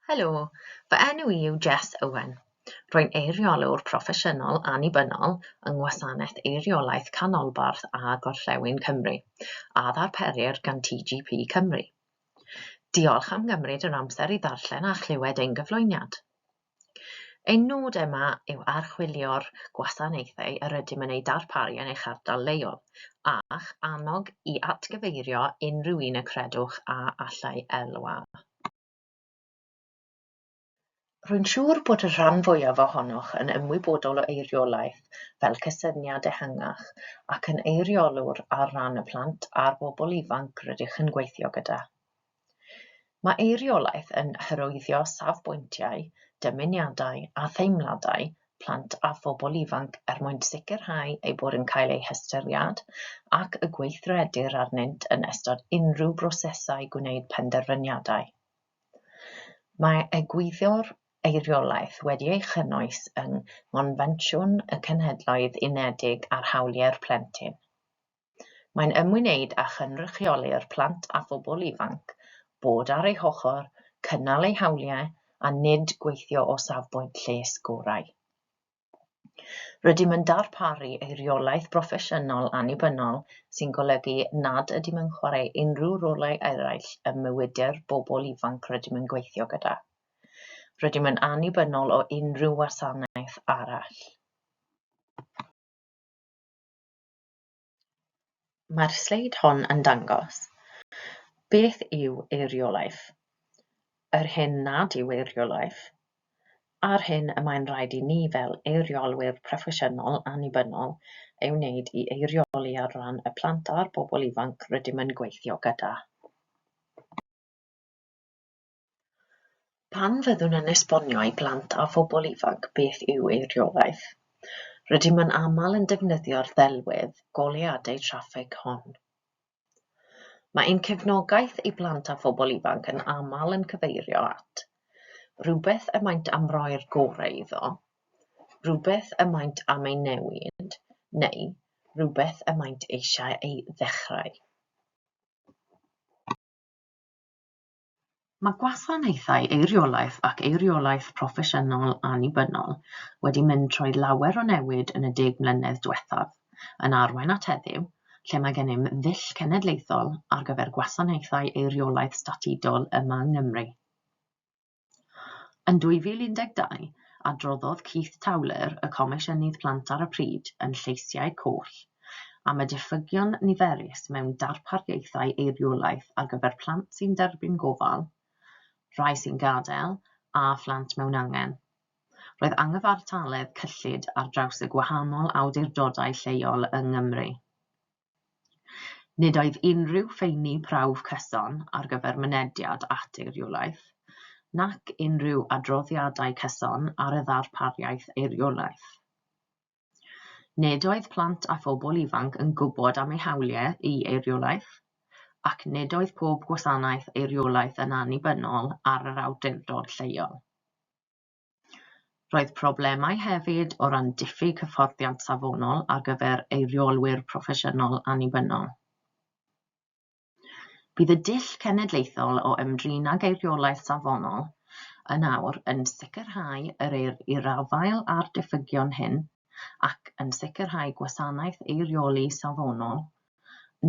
Helo, fy enw i yw Jess Owen. Rwy'n eiriolwr proffesiynol annibynnol yng Ngwasanaeth Eiriolaeth Canolbarth a Gorllewin Cymru, a ddarperir gan TGP Cymru. Diolch am gymryd yr amser i ddarllen a chlywed ein gyflwyniad. Ein nod yma yw archwilio'r gwasanaethau yr ydym yn eu darparu yn eich ardal leol, a'ch annog i atgyfeirio unrhyw un y credwch a allai elwa. Rwy'n siŵr bod y rhan fwyaf ohonoch yn ymwybodol o eiriolaeth fel cysyniad ehangach ac yn eiriolwr ar ran y plant a'r bobl ifanc rydych yn gweithio gyda. Mae eiriolaeth yn hyrwyddo safbwyntiau, dymuniadau a theimladau plant a phobl ifanc er mwyn sicrhau eu bod yn cael eu hystyried ac y gweithredir arnynt yn ystod unrhyw brosesau gwneud penderfyniadau. Mae egwyddor eiriolaeth wedi ei chynnwys yng Ngonfensiwn y Cenhedloedd Unedig ar Hawliau'r Plentyn. Mae'n ymwneud â chynrychioli'r plant a phobl ifanc, bod ar eu hochr, cynnal eu hawliau a nid gweithio o safbwynt lles gorau. Rydym yn darparu eiriolaeth broffesiynol annibynnol sy'n golygu nad ydym yn chwarae unrhyw rolau eraill ym mywyd'r bobl ifanc rydym yn gweithio gyda. Rydym yn annibynnol o unrhyw wasanaeth arall. Mae'r sleid hon yn dangos beth yw eiriolaeth, yr hyn nad yw eiriolaeth, a'r hyn y mae'n rhaid i ni fel eiriolwyr proffesiynol annibynnol ei wneud i eirioli ar ran y plant a'r bobl ifanc rydym yn gweithio gyda. Pan fyddwn yn esbonio i blant a phobl ifanc beth yw eiriolaeth, rydym yn aml yn defnyddio'r ddelwedd goleuadau traffig hon. Mae ein cefnogaeth i blant a phobl ifanc yn aml yn cyfeirio at rywbeth y maent am roi'r gorau iddo, rhywbeth y maent am ei newid neu rywbeth y maent eisiau ei ddechrau. Mae gwasanaethau eiriolaeth ac eiriolaeth proffesiynol annibynnol wedi mynd trwy lawer o newid yn y deg mlynedd diwethaf, yn arwain at heddiw, lle mae gennym ddull cenedlaethol ar gyfer gwasanaethau eiriolaeth statudol yma yng Nghymru. Yn 2012, adroddodd Keith Towler, y Comisiynydd Plant ar y pryd, yn Lleisiau Coll, am y diffygion niferus mewn darpariaethau eiriolaeth ar gyfer plant sy'n derbyn gofal, rhai sy'n gadael, a phlant mewn angen. Roedd angyfartaledd cyllid ar draws y gwahanol awdurdodau lleol yng Nghymru. Nid oedd unrhyw ffeini prawf cyson ar gyfer mynediad at eiriolaeth, nac unrhyw adroddiadau cyson ar y ddarpariaeth eiriolaeth. Nid oedd plant a phobl ifanc yn gwybod am eu hawliau i eiriolaeth, ac nid oedd pob gwasanaeth eiriolaeth yn annibynnol ar yr awdurdod lleol. Roedd problemau hefyd o ran diffyg hyfforddiant safonol ar gyfer eiriolwyr proffesiynol annibynnol. Bydd y dull cenedlaethol o ymdrin ag eiriolaeth safonol yn awr yn sicrhau yr eir i'r afael â'r diffygion hyn ac yn sicrhau gwasanaeth eirioli safonol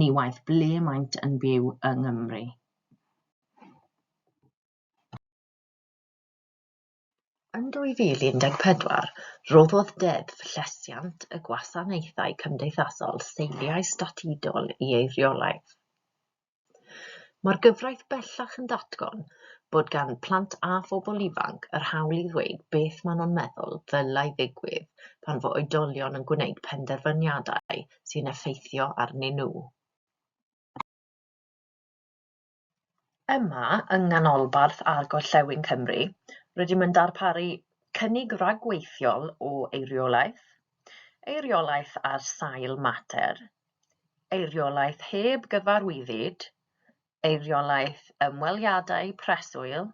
ni waeth ble maent yn byw yng Nghymru. Yn 2014, rhoddodd Deddf Llesiant y Gwasanaethau Cymdeithasol seiliau statudol i ei reolaeth. Mae'r gyfraith bellach yn datgan bod gan plant a phobl ifanc yr hawl i ddweud beth maen nhw'n meddwl ddylai ddigwydd pan fo oedolion yn gwneud penderfyniadau sy'n effeithio arnyn nhw. Yma yng Nghanolbarth a Gorllewin Cymru, rydym yn darparu cynnig rhagweithiol o eiriolaeth, eiriolaeth ar sail mater, eiriolaeth heb gyfarwyddyd, eiriolaeth ymweliadau preswyl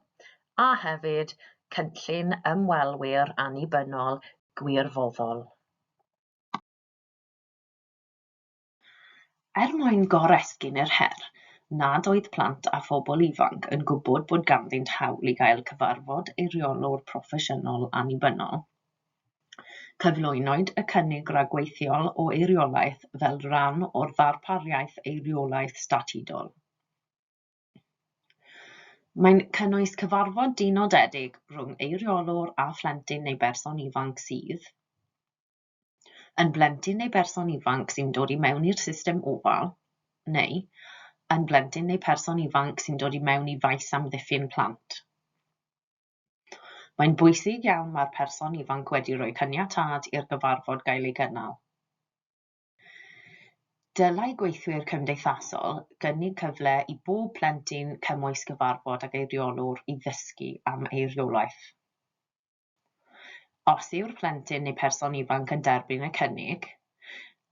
a hefyd cynllun ymwelwyr annibynnol gwirfoddol. Er mwyn goresgyn yr her nad oedd plant a phobl ifanc yn gwybod bod ganddynt hawl i gael cyfarfod eiriolwr proffesiynol annibynnol, cyflwynwyd y cynnig ragweithiol o eiriolaeth fel rhan o'r ddarpariaeth eiriolaeth statudol. Mae'n cynnwys cyfarfod dinodedig rhwng eiriolwr a phlentyn neu berson ifanc sydd, yn blentyn neu berson ifanc sy'n dod i mewn i'r system ofal, neu yn blentyn neu person ifanc sy'n dod i mewn i faes amddiffyn plant. Mae'n bwysig iawn mae'r person ifanc wedi rhoi caniatâd i'r gyfarfod gael ei gynnal. Dylai gweithwyr cymdeithasol gynnig cyfle i bob plentyn cymwys gyfarfod ag eiriolwr i ddysgu am eiriolaeth. Os yw'r plentyn neu person ifanc yn derbyn y cynnig,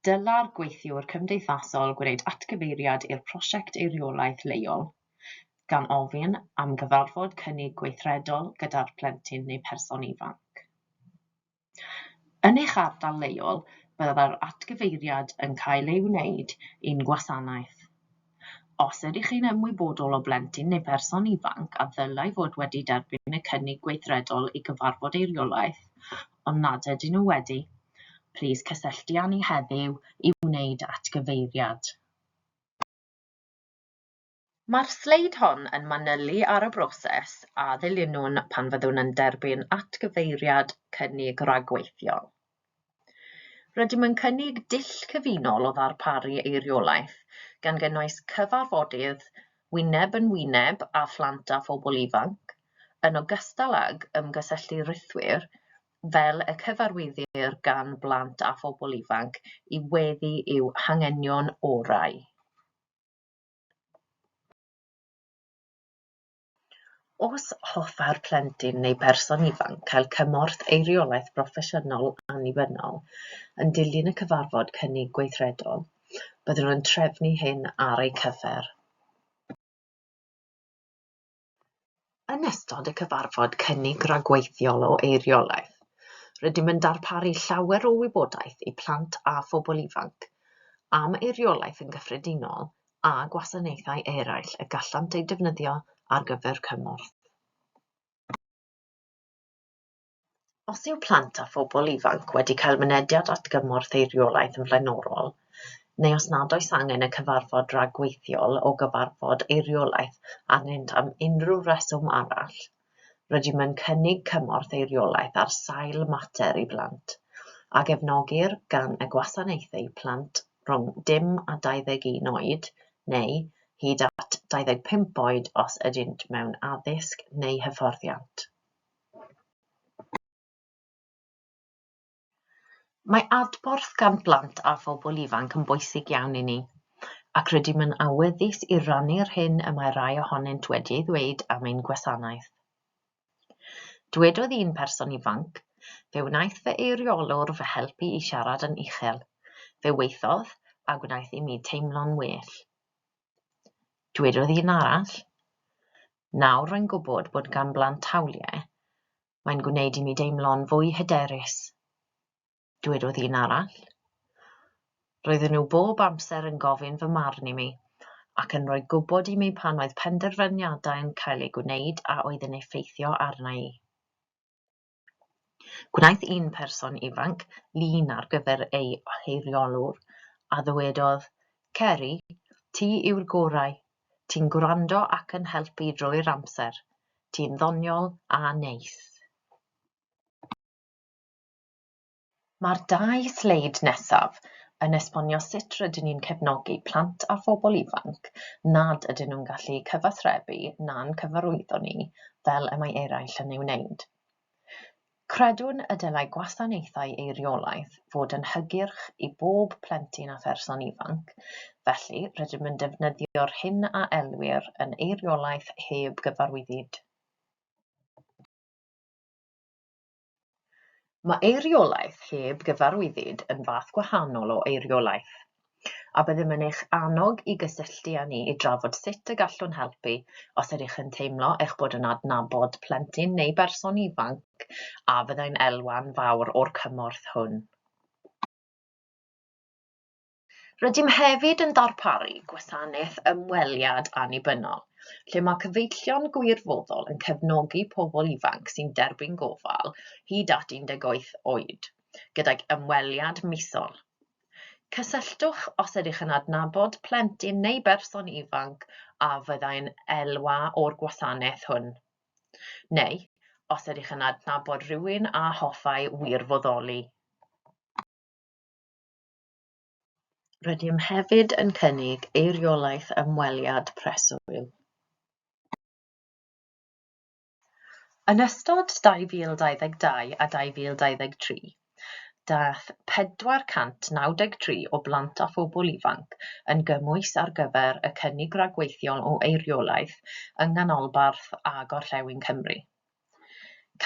dylai'r gweithiwr cymdeithasol gwneud atgyfeiriad i'r prosiect eiriolaeth leol, gan ofyn am gyfarfod cynnig gweithredol gyda'r plentyn neu person ifanc. Yn eich ardal leol, byddai'r atgyfeiriad yn cael ei wneud i'n gwasanaeth. Os ydych chi'n ymwybodol o blentyn neu berson ifanc a ddylai fod wedi derbyn y cynnig gweithredol i gyfarfod eiriolaeth, ond nad ydyn nhw wedi, plîs cysylltu â ni heddiw i wneud atgyfeiriad. Mae'r sleid hon yn manylu ar y broses a ddilynwn pan fyddwn yn derbyn atgyfeiriad cynnig rhagweithiol. Rydym yn cynnig dull cyfunol o ddarparu eiriolaeth, gan gynnwys cyfarfodydd wyneb yn wyneb â phlant a phobl ifanc, yn ogystal ag ymgysylltu rhithwir, fel y cyfarwyddir gan blant a phobl ifanc, i weddu i'w hanghenion orau. Os hoffai'r plentyn neu berson ifanc gael cymorth eiriolaeth broffesiynol annibynnol yn dilyn y cyfarfod cynnig gweithredol, byddwn yn trefnu hyn ar eu cyfer. Yn ystod y cyfarfod cynnig rhagweithiol o eiriolaeth, rydym yn darparu llawer o wybodaeth i plant a phobl ifanc am eiriolaeth yn gyffredinol a gwasanaethau eraill y gallant eu defnyddio ar gyfer cymorth. Os yw plant a phobl ifanc wedi cael mynediad at gymorth eiriolaeth yn flaenorol, neu os nad oes angen y cyfarfod rhagweithiol o gyfarfod eiriolaeth arnynt am unrhyw reswm arall, Rydym yn cynnig cymorth eiriolaeth ar sail mater i blant, a gefnogir gan y gwasanaethau plant rhwng dim a 21 oed, neu hyd at 25 oed os ydynt mewn addysg neu hyfforddiant. Mae adborth gan blant a phobl ifanc yn bwysig iawn i ni, ac rydym yn awyddus i rannu'r hyn y mae rhai ohonynt wedi ei ddweud am ein gwasanaeth. Dwedodd un person ifanc, Fe wnaeth fy eiriolwr fy helpu i siarad yn uchel. Fe weithiodd, a gwnaeth i mi teimlo'n well. Dwedodd un arall, Nawr rwy'n gwybod bod gan blant hawliau Mae'n gwneud i mi deimlo'n fwy hyderus. Dwedodd un arall, Roedden nhw bob amser yn gofyn fy marn i mi ac yn rhoi gwybod i mi pan oedd penderfyniadau yn cael eu gwneud a oedd yn effeithio arna i. Gwnaeth un person ifanc lun ar gyfer ei oheiriolwr a ddywedodd, Ceri, ti yw'r gorau, Ti'n gwrando ac yn helpu drwy'r amser. Ti'n ddoniol a neis. Mae'r dau sleid nesaf yn esbonio sut rydyn ni'n cefnogi plant a phobl ifanc nad ydyn nhw'n gallu cyfathrebu na'n cyfarwyddo ni fel y mae eraill yn ei wneud. Credwn y dylai gwasanaethau eiriolaeth fod yn hygyrch i bob plentyn a pherson ifanc, felly rydym yn defnyddio'r hyn a elwir yn eiriolaeth heb gyfarwyddyd. Mae eiriolaeth heb gyfarwyddyd yn fath gwahanol o eiriolaeth. a byddem yn eich annog i gysylltu â ni i drafod sut y gallwn helpu os ydych yn teimlo eich bod yn adnabod plentyn neu berson ifanc a fyddai'n elwa'n fawr o'r cymorth hwn. Rydym hefyd yn darparu gwasanaeth ymweliad annibynnol, lle mae cyfeillion gwirfoddol yn cefnogi pobl ifanc sy'n derbyn gofal hyd at 18 oed, gydag ymweliad misol. Cysylltwch os ydych yn adnabod plentyn neu berson ifanc a fyddai'n elwa o'r gwasanaeth hwn, neu os ydych yn adnabod rhywun a hoffai wirfoddoli. Rydym hefyd yn cynnig eiriolaeth ymweliad preswyl. Yn ystod 2022 a 2023, daeth 493 o blant a phobl ifanc yn gymwys ar gyfer y cynnig rhagweithiol o eiriolaeth yng Nghanolbarth a Gorllewin Cymru.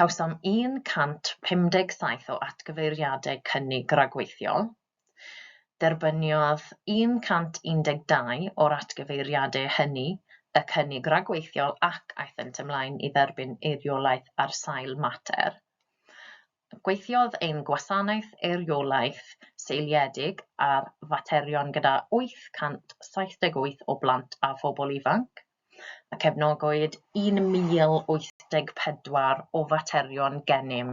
Cawsom 157 o atgyfeiriadau cynnig rhagweithiol, Derbyniodd 112 o'r atgyfeiriadau hynny y cynnig ragweithiol ac aethent ymlaen i dderbyn eiriolaeth ar sail mater. Gweithiodd ein Gwasanaeth Eiriolaeth Seiliedig ar Faterion gyda 878 o blant a phobl ifanc, a cefnogwyd 1,084 o faterion gennym.